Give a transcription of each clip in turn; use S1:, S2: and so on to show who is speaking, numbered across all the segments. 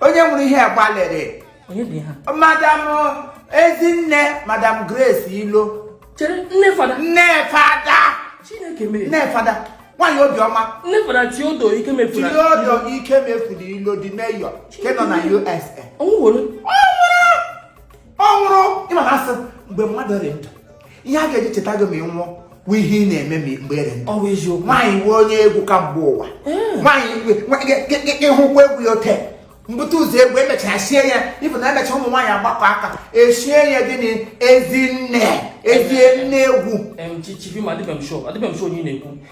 S1: onye nwere ihe
S2: gbalịrị
S1: madam ezinne madam grace ilo nne fada
S2: nne fada
S1: nwaanyị obiọma
S2: theodore
S1: ikemefuru ilo the mayor nke nọ na
S2: usa ọ
S1: nwụrụ ị ma na a sị mgbe mmadụ dị ndụ ihe a ga-eji cheta gị ma ị nwụọ wụ ihe ị na-eme mgbe ere nwaanyị wụ
S2: onye egwu
S1: ka mgbe ụwa eh. nwaanyị hụkwa egwu ya ote mbute ụzọ egwu e mechara shie ya ịbụ na emecha ụmụ nwaanyị agbakọọ aka eshie ya gịnị ezinne ezinne egwu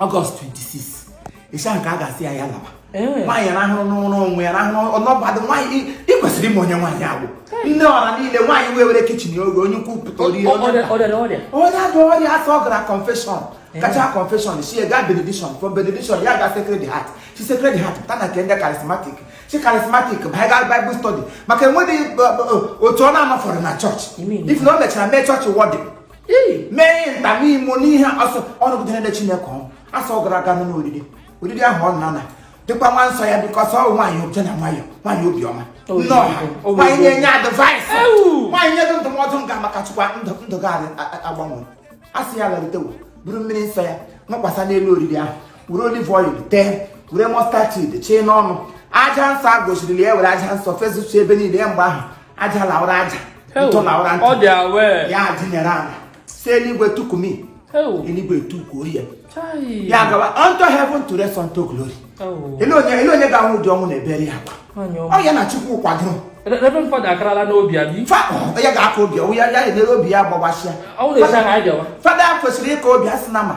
S1: ọgọst 26th ka a ga-asị ya ya lawa nwaanyị rahụrụ n'ụlọ onwe ya rahụrụ ọnọbadụ nwaanyị ị kwesịrị ịma onye nwaanyị a wụ nne ọra niile nwaanyị wee were kichin oge onye ukwu pụta o rie onye adụ ọrịa a sị ọ gara confession gachaa confession si ga benediction from benediction ya ga sacred heart si sacred heart pụta na nke ndị charismatic si charismatic banye ga bible study maka enweghị otu ọ na-anọfọrọ na chọọchị even o mechara mee chọọchị warden mee ihe nta n'imo n'ihe asọ ọnụgide na-ede chineke ọ wụ a sị ọ gara aga n'ụlọ oriri oriri ahụ ọ nana dịkwa nwa nsọ ya because ọ wụ nwaanyị oche na nwayọ nwaanyị obiọma nne ọha nwaanyị na-enye advice nwaanyị nye gị ndụmọdụ nga maka chịkwa ndụ ndụ gị adị- a- a- agbanwe a sị ya laritewo buru mmiri nsọ ya wụkwasa n'elu oriri ahụ were olive oil tee were mustard seed chee n'ọnụ aja nsọ a gọziri na ya were aja nsọ fezusu ebe niile mgbe ahụ aja lawara aja ntụ lawara ntụ ya adịnyere ala sị eluigwe tukumi eluigwe tukwuo ya ya gawa unto heaven to rest unto glory ele onye ga-anwụ ụdị ọnwụ na-ebere ya akwa ọ ya na chukwu kwadoro Reverend Father akarala
S2: n'obi ya bi. ya ga-aka obi
S1: ya ya na-ere obi ya gbawasịa. Fada kwesịrị ịka obi a sị na ma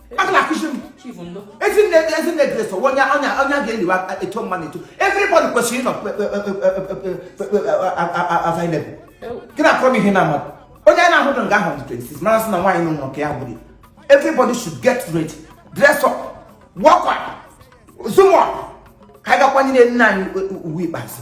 S1: akala akụzi m Chief ndo. ezi nne ezi nne Grace o onye onye onye a ga-eliwe aka eto mma na eto everybody kwesịrị ịnọ available gị na-akọrọ m ihe na amadụ onye a na-ahụdị nga ahụ dị 26 mara sị na nwaanyị nọ nke ya gburu everybody should get ready dress up walk up zoom up ka anyị ga kwanyere nne anyị ugwu ikpeazụ